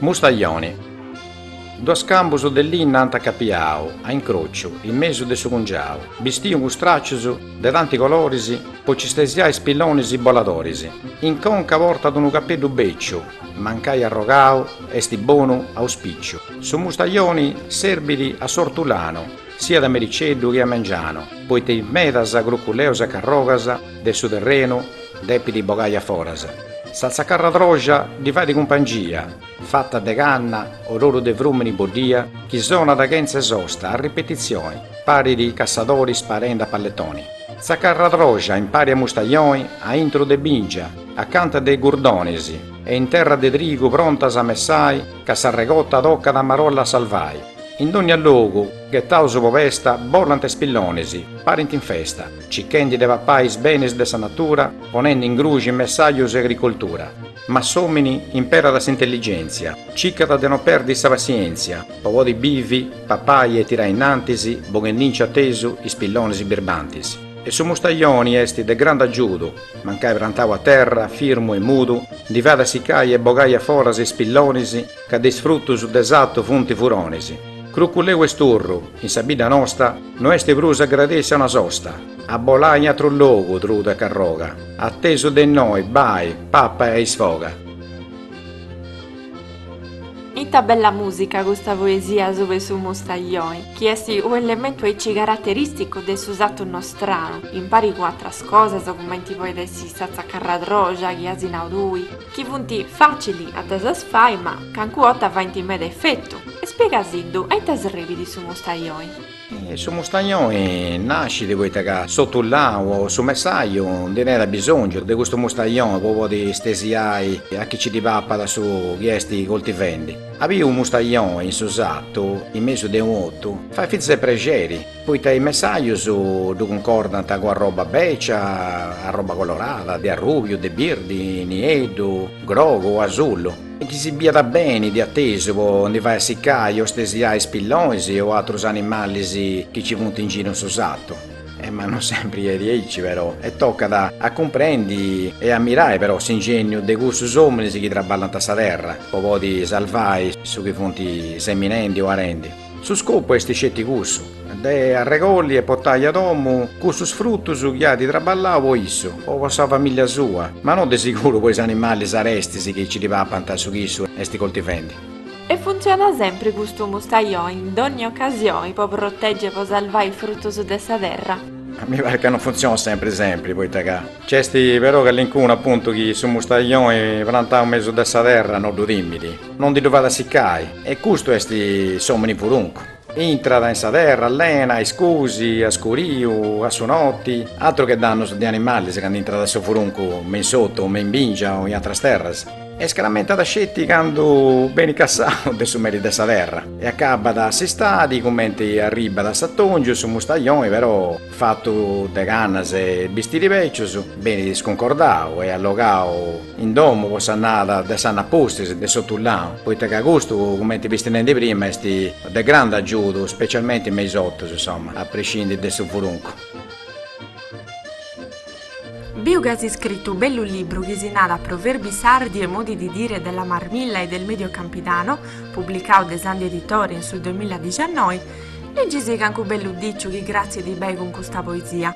Mustajoni. Duus cambus de linna ant acapiau a incrociu in mesu de su cungiau, bistiu cun straccius de tanti coloris po ci stesiai spillonis boladoris. In conca portat unu capeddu beciu, mancai arrogau est bonu auspiciu. Su mustajoni serbit a s'ortulanu. siat a mericeddu che a mengianu, poita is medas cruculeus e carrogas de su terrenu depit bogai a foras. Sa tzacarradroja ddi fait cumpangia, fata de canna, ororu de frumini boddia, chi sonat chentza 'e sosta a ripetizioni, parit cassadori sparendi a palletoni. Tzacarradroja impari a mustajoni a intru de bingia, acanta de gurdonis, e in terra de trigu prontas a messai ca s'arregota tocat a marolla a salvai. In dogna logu, ghetaus po pesta, bolant is pillonis, parint in festa, cichendi de papai is benis de sa natura, ponendi in gruxi messajus e agricoltura. Ma s'omini imperat s'intelligentzia, cicat de no perdi sa passientzia, po podi bivi, papai e tirai innantis, boghendinci atesu is pillonis birbantis. E su mustajoni est de grandu agiudu, mancai prantau a terra, firmu e mudu, ndi fait assicai e bogai a foras is pillonis, ca de is frutus de sattu funt furonis. Cruculeu e sturru, in sa bidda nosta, no est prus agradèssia una sosta, a bolai in atru logu, trudu e carroga, atesu de innoi, bai, papa e a isfoga. Ita bella musica custa poesia sub'e su mustaglioni, chi est u'elementu aici carateristicu de su sattu nostranu, impari cun atras cosas cumenti poit essi sa tzacarradroja chi as nau tui, chi funt fàcili a ddas as fai ma cancu 'orta faint meda efetu, e spiegasiddu a ita sribit su mustajoi. Su mustajoi nascit poita ca s'otulau o su messaju ndi tenit abisòngiu de custu mustajoi po podi stesiai a chi ci ddi papat su chi est coltivendi. A bi unu mustajoi in su satu in mesu de unu ottu fait fintzas prexeri. Poita is messajus ddu cuncordant cun arroba bècia, arroba colorada, de arrùbiu, de birdi, nieddu, grogu o asullu. Chi si biat beni de atesu po ndi fai assicai o stesiai is pillonis o atrus animalis chi nci funt in giru in su satu. E ma no sempri est aici però e tocat a cumprendi e ammirai però s'ingènniu de cussus ominis chi traballant sa terra po podi salvai su chi funt seminendi o arendi. Su scopu est sceti cussu, de arregolli e potai a domu cussus frutus chi at traballau po issu o po sa familia sua, ma no de siguru po is animalis arestis chi ci ddi papant su chi issu est coltivendi. E funtzionat sempri custu mustajoni in dogni ocasioni po proteggi e po salvai is frutus de sa terra? Mi parit ca no funtzionat sempri sempri, poita ca nc'est però callincunu apuntu chi su mustajoi prantau mesu de sa terra no ddu timit. No ddi ddu fait a sicai. E custu est s'omini furuncu. Intrat in sa terra allena a iscusi, a scuriu, a su noti. Atru che dannus de animalis candu intrat su furuncu me in s'otu o me in bingia o in atras terras. E scaramentat sceti candu benit cassau de su meri de sa terra e acabat s'istadi cumenti arribat s'atongiu, su mustajoni però. Fatu de cannas e bistiri bècius, benit iscuncordau e allogau in domu po s'annada de s'annu apustis de s'otullanu, poita ca custu, cumenti femu nendi prima, est de grandu agiudu, specialmenti me is otus, insoma, a prescindi de su furuncu. Biu ca as iscritu u bellu libru chi si narat Proverbi sardi e modi di dire della marmilla e del medio campidano, publicau de Sandi Editore in su duamilla dixannoi, Legisi cancu bellu diciu chi cratzit beni cun custa poesia.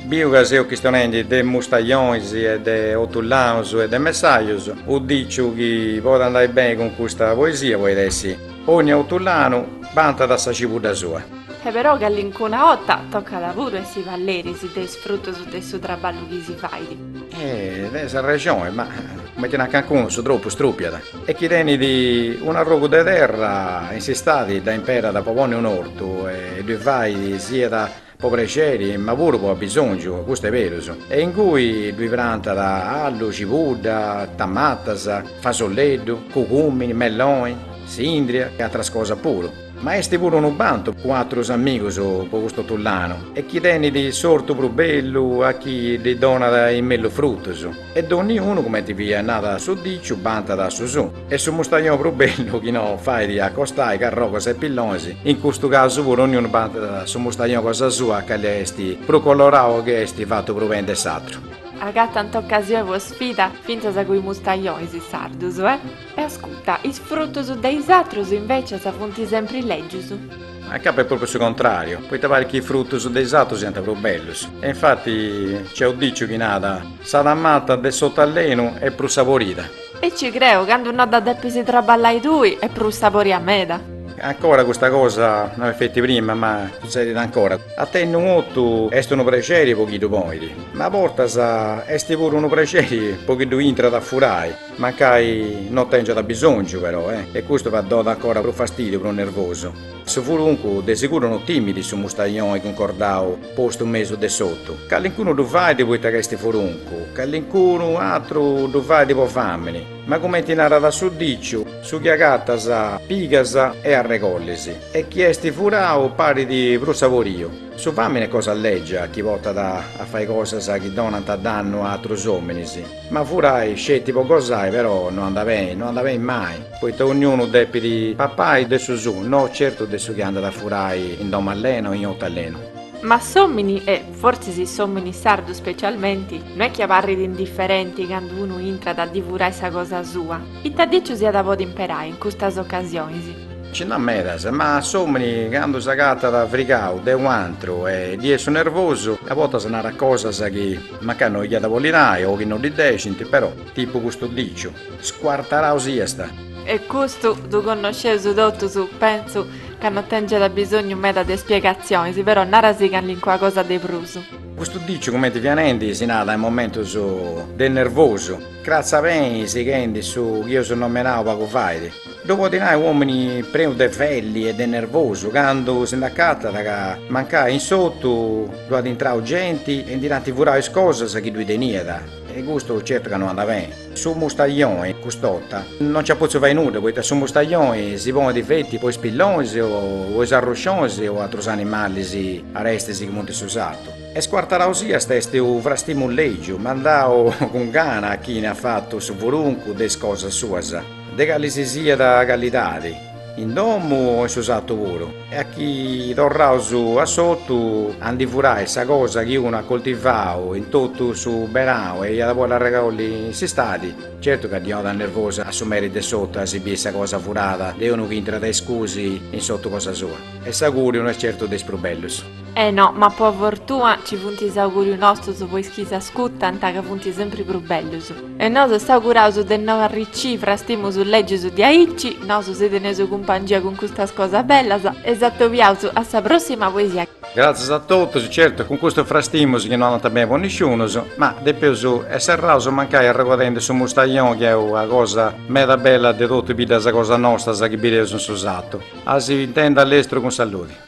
Biu ca seu chistionendi de mustajonis e de otullaus e de messajus, u diciu chi poit andai beni cun custa poesia poit essi, Ogni otullanu bantat sa cibudda sua. E però callincuna 'otta tocat puru essi balleris de is frutus de su traballu chi si fait. E as arrexoni, ma cumenti nant cancunus, su tropu strupiat. e chi tenit un'arrogu de terra in s'istadi dda imperat po ponni un'ortu e ddu fait siat po prexeri ma puru po abisòngiu, custu est berus, e inguni ddoi prantat allu, cibudda, tamatas, fasolleddu, cugùmini, melloni, sìndria e atras cosas puru. Ma est puru unu bantu cun atrus amigus po custu otullanu e chi tenit s'ortu prus bellu a chi ddi donat is mellus frutus. E donniunu, cumenti ti at nau su diciu, bantat su suu. E su mustajoni prus bellu chi no fait acostai carrogos e pillonis, in custu casu puru onniunu bantat su mustajoni cosa sua, ca est prus colorau o chi est fatu prus beni de s'atru. Agatant ocasioni po sfida fintzas cun is mustajonis is sardus, eh! E ascurta, is frutus de is atrus invecias funt sempri lègius. Acabat est propriu su contrariu, poita parit chi is frutus de is atrus siant prus bellus. E infati nc'est u diciu chi narat, Sa tamata de s'otu allenu est prus saborida. E nci creu, candu no dda depis traballai tui, est prus saboria meda. Ancora custa cosa no est feti de prima, ma sutzedit ancora. A tenni unu otu est unu prexeri po chi ddu ponit, ma a bortas est puru unu prexeri po chi ddu intrat a furai. Mancai no tèngiat bisòngiu però e e custu fait a donai ancora prus fastìdiu, prus nervosu. Su furuncu de seguru no timit su mustajoni cuncordau postu in mesu de s'otu. Calincunu ddu fait poita ca est furuncu, calincunu atru ddu fait po fàmini, ma cumenti narat su diciu, su chi agatas pigas e arregollis e chi est furau parit prus saboriu. Su fàmini est cosa lègia chi portat a fai cosas chi donant dannu a atrus òminis. Ma furai sceti po gosai però no andat beni, no andat beni mai, poita ognunu depit papai de su suu, no certu de su chi andat a furai in domu allena o in otu allenu. Ma s'omini, e fortzis s'omini sardu specialmenti, no est chi abarrit indifferenti candu unu intrat a ddi furai sa cosa sua, ita diciu si at a podi imperai in custas ocasionis? Nci nd'at medas, ma s'omini candu s'agatat frigau de u' antru e ddi est su nervosu, a bortas narat cosas chi. Mancai no iat a bolli nai o chi no ddi dexint, però, tipu custu diciu, scuartarau siast! E custu ddu connosceus totus, pentzu ca no tèngiat abisòngiu meda de spiegatzionis, però nara·sì calincuna cosa de prus. Custu diciu cumenti fia nendi si narat in momentus de nervosu, cratza beni sighendi su chi eus nomenau pagu fait. Ddu podit nai u' omini prenu de felli e de nervosu candu si nd'acatat ca mancai in s'otu ddu at intrau genti e ndi l'ant furau is cosas chi ddui teniat e custu certu ca no andat beni. Su mustajoni cust'ota no nci at potziu fai nudda poita su mustajoni si ponit feti po is pillonis o po is arruscionis o atrus animalis arestis chi funt in su satu. E scuartarau siast est u frastimu legiu mandau cun gana a chini at fatu su furuncu de is cosas suas. De cali si siat calidadi. In domu o in su satu puru. E achì torraus a s'otu a ndi furai sa cosa chi unu at coltivau in totu su berau e iat a bolli arregolli in s'istadi, certu ca ddi 'onat nervosu a su meri de s'otu a si biri sa cosa furada de unu chi intrat a iscusi in s'otu cosa sua. E s'auguriu no est certu de is prus bellus. Eh no, ma po fortuna ci funt is augurius nostus po is chi s'ascutant ca funt sempri prus bellus. E nosu s'auguraus de no arricci frastimus legius diaici, nosu si teneus cumpangia cun custas cosas bellas e s'atobiaus a sa prossima poesia. Gratzias a totus, certu cun custu frastimus chi no andant beni po nisciunus, ma depeus e serraus mancai arregodendi su mustajoni chi est una cosa meda bella de totu biddas cosa nostas chi bideus in su satu. A si intendi a lestru cun saludi.